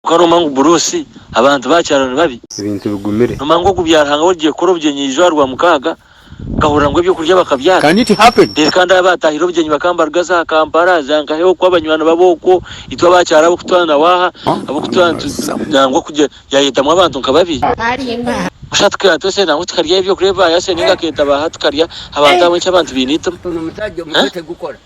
Kwonka noomanya ngu Buruusi abantu baakyaro ni babi? Ebintu bigumire. Noomanya ngu ogubyara Ruhanga w'origiye kukora obugyenyi eizooba rwamukaga, nkahurira ngu eby'okurya bakabyara. Can it happen? Reero kandi abo abaatahire obugyenyi bakaambaruga za Kampala, za Nkahe okwo, abanywani babo okwo, itwe abaakyaro ab'okutwara na waaha, ab'okutwara nitutwa nangwa kugye yaayetamu abantu nka babi. Busha tukaira twese nangwa tukarya eby'okurya ebi baayasya nainga akeeta baaha tukarya abantu ahabw'enki abantu baine eitima?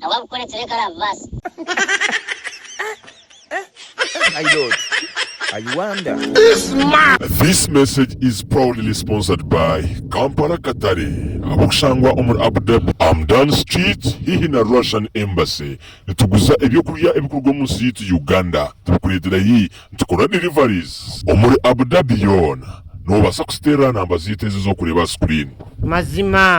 Nawe akukore kireka arabibaasa. This message is proudly sponsored by Kampala Katare ab'okushangwa omuri Abu Dhabi, Amdan Street hihi na Russian Embassy. Nituguza eby'okurya ebikuruga omu nsi yaitu Uganda tubikureetera yi. Nitukora deliveries omuri Abu Dhabi yoona. Noobaasa kuziteerera aha namba zaitu ezi ez'okureeba aha sikuriini. Mazima.